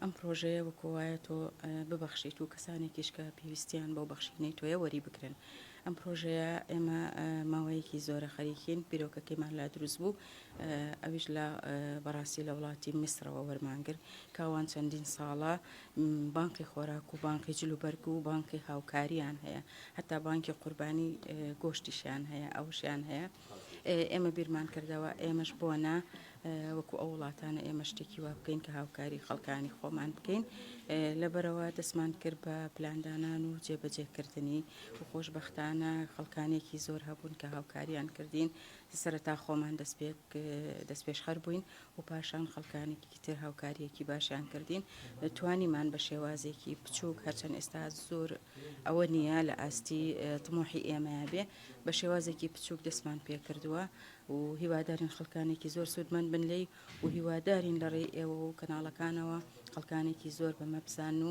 ئەم پرۆژەیە وەکۆ وایە تۆ ببەخشیت و کەسانێکیش کە پێویستیان بەو بەخشینەی تۆیە وەری بگرن ئەم پرۆژەیە ئێمە ماوەیەکی زۆرە خەریکین بیرۆکەکەیمان لا دروست بوو ئەویش لە بەڕاستی لە وڵاتی میسرەوە وەرمانگر کاوان چەندین ساڵە بانقی خۆراک و بانقی جل و بەرگ و بانقی هاوکاریان هەیە هەتا بانکی قوربانی گۆشتیشیان هەیە ئەوشیان هەیە ئێمە بیرمان کردەوە ئێمەش بۆنا وەکو ئەو وڵاتانە ئێمە شتێکی وا بکەین کە هاوکاری خەڵکانی خۆمان بکەین لەبەرەوە دەستمان کرد بە پلاندانان و جێبەجێکردنی و خۆشببختانە خەڵکانێکی زۆر هەبوون کە هاوکاریان کردین سەرەتا خۆمان دەست پێ دەست پێشخەر بووین و پاشان خەڵکانێکی تر هاوکارییەکی باشیان کردین توانیمان بە شێوازێکی بچووک هەرچەند ئێستا زۆر ئەوە نییە لە ئاستی تمۆحی ئێمەیە بێ بە شێوازێکی بچووک دەستمان پێ کردووە و هیوادارین خەڵکانێکی زۆر سوودمەند بن لی و هیوادارین لە ڕێی ئێوە و کەناڵەکانەوە خەڵکانێکی زۆر بەمە بزان و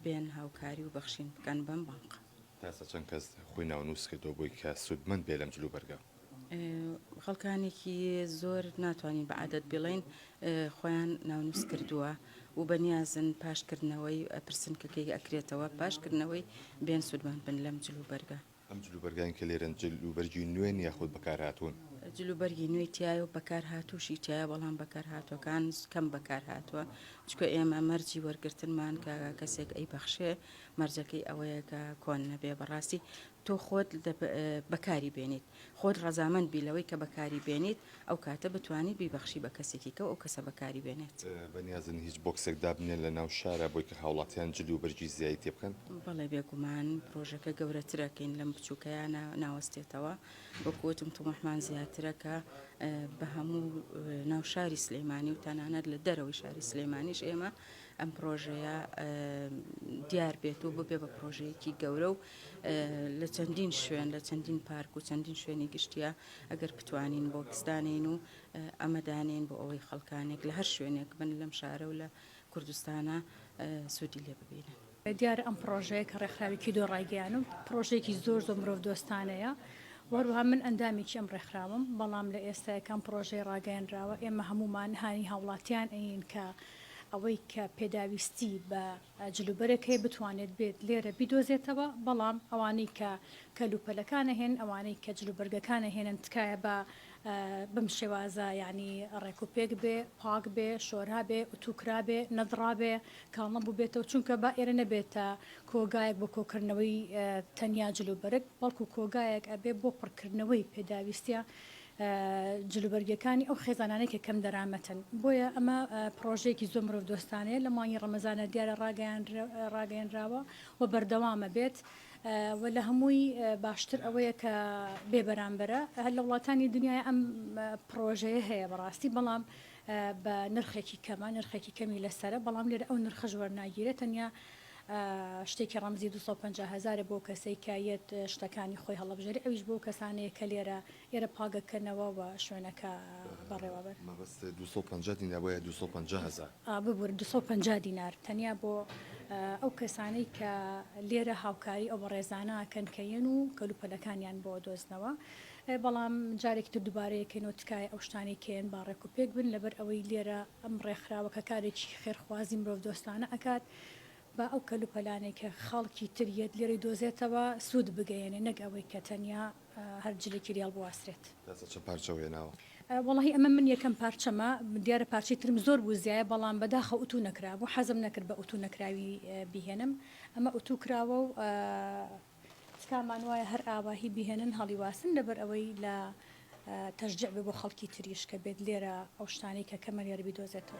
بێن هاوکاری و بەخشین بکەن بەم بانقە تاسە چەند کەس خۆی ناونووس کردەوە بۆی کە سوودمەند بێ لەم جلوبەرگە؟ خەڵکانێکی زۆر ناتوانین بە عادەت بڵێن خۆیان ناونووس کردووە و بەنیازن پاشکردنەوەی پرسنکەکەی ئەکرێتەوە پاشکردنەوەی بێن سوودمان بن لەم جل و بەرگە ئەم جل و بەرگانی کە لێرەن جل و بەرگی نوێن یاخود بەکارهاتوون جل و بەرگی نوێی تایە و بەکارهاتووشی تایە بەڵام بەکارهاتوەکان کەم بەکارهاتوە چکە ئێمە مەرجی وەرگرتنمان کە کەسێک ئەی بەخشێ مەرجەکەی ئەوەیە کە کۆن نەبێ بەڕاستی تۆ خۆت بەکاری بێنیت، خۆت ڕەزامەند بی لەوەی کە بەکاری بێنیت، ئەو کاتە بتوانیت بیبەخشی بە کەسێکی کە و ئەو کەسە بەکاری بێنێت. بەنیازن هیچ بۆکسێک دابنێن لە ناو شارا بۆی کە هاوڵاتیان جل و بەرگی زیایی تێ بکەن؟ بەڵێ بێگومان پرۆژەکە گەورەترەکەین لەم بچوکەیا ناوەستێتەوە، وەکو وتم توموحمان زیاترە کە بە هەموو ناو شاری سلیمانی و تەنانەت لە دەرەوەی شاری سلیمانیش ئێمە ئەم پرۆژەیە دیار بێت و ببێ بە پرۆژەیەکی گەورە و لە چەندین شوێن لە چەندین پارک و چەندین شوێنی گشتیە ئەگەر بتوانین بۆ کسدانین و ئەمەدانین بۆ ئەوەی خەڵکانێک لە هەر شوێنێک بن لەم شارە و لە کوردستانە سوودی لێ ببینن. دیارە ئەم پرۆژەیە کە ڕێکخراوێکی دۆ ڕایگەیان و پرۆژێکی زۆر زۆر مرۆڤ دۆستانەیە وەروها من ئەندامێکی ئەم ڕێکخراوم بەڵام لە ئێستاەکان پرۆژەی ڕاگەیەنراوە ئێمە هەمومان هانی هاوڵاتیان ئەین کە ئەوەی کە پێداویستی بە جلوبەرەکەی بتوانێت بێت لێرە بیدۆزێتەوە بەڵام ئەوانەی کە کەل و پەلەکان ئەهێنن ئەوانەی کە جل و بەرگەکان ئەهێنن تکایە با بەم شێوازە یانی ڕێک و پێک بێ پاک بێ شۆرا بێ ئوتوو کرا بێ نەدڕا بێ کاڵ نەبوو بێتەوە چونکە با ئێرە نەبێتە کۆگایەک بۆ کۆکردنەوەی تەنیا جل و بەرگ بەڵکو کۆگایەک ئەبێ بۆ پڕکردنەوەی پێداویستیە جلوبەرگیەکانی ئەو خێزانانەی کە کەم دەرامەتن، بۆیە ئەمە پڕۆژەیەکی زۆر مرۆڤ دۆستانەیە لە مانگی ڕەمەزانە دیارە ڕاگەیەنراوە و بەردەوامە بێت و لە هەمووی باشتر ئەوەیە کە بێ بەرامبەرە هەر لە وڵاتانی دنیای ئەم پڕۆژەیە هەیە بەڕاستی بەڵام بە نرخێکی کەمە نرخێکی کەمی لەسەرە بەڵام لێرە ئەو نرخەش وەرناگیرێت تەنیا شتێکی ڕەمزی دوو سەد و پەنجا هەزارە بۆ کەسەی کە یەت شتەکانی خۆی هەڵەبژێری ئەویش بۆ کەسانەیە کە لێرە ئێرە پاگە کەنەوە و شوێنەکە بەڕێوە بەن. مەبەست دوو سەد و پەنجا دینار بۆ یە دوو سەد و پەنجا هەزار؟ ئا ببورن دوو سەد و پەنجا دینار تەنیا بۆ ئەو کەسانەی کە لێرە هاوکاری ئەو بەڕێزانە ئەکەن کە یەن و کەلوپەلەکانیان بۆ ئەدۆزنەوە بەڵام جارێکی تر دوبارە یەکەینەوە تکایە ئەو شتانەی کە یەن با ڕێکوپێک بن لەبەر ئەوەی لێرە ئەم ڕێکخراوە کە کارێکی خێرخوازی مرۆڤ دۆستانە ئەکات با ئەو کەلوپەلانەی کە خەڵکی تر یەت لێرەی دۆزێتەوە سوود بگەیەنێ نەک ئەوەی کە تەنیا هەر جلێکی ریاڵ بواسرێت. نازە چەند پارچەو هێناوە؟ وەڵاهی ئەمە من یەکەم پارچەمە دیارە پارچەی ترم زۆر بوو زیایە بەڵام بەداخە ئوتوو نەکرابوو حەزم نەکرد بە ئوتوو نەکراوی بیهێنم ئەمە ئوتوو کراوە و. تکامان وایە هەر ئاواهی بیهێنن هەڵیواسن لەبەر ئەوەی لە تەشجیع بێ بۆ خەڵکی تریش کە بێت لێرە ئەو شتانەی کە کەمە لێرە بیدۆزێتەوە.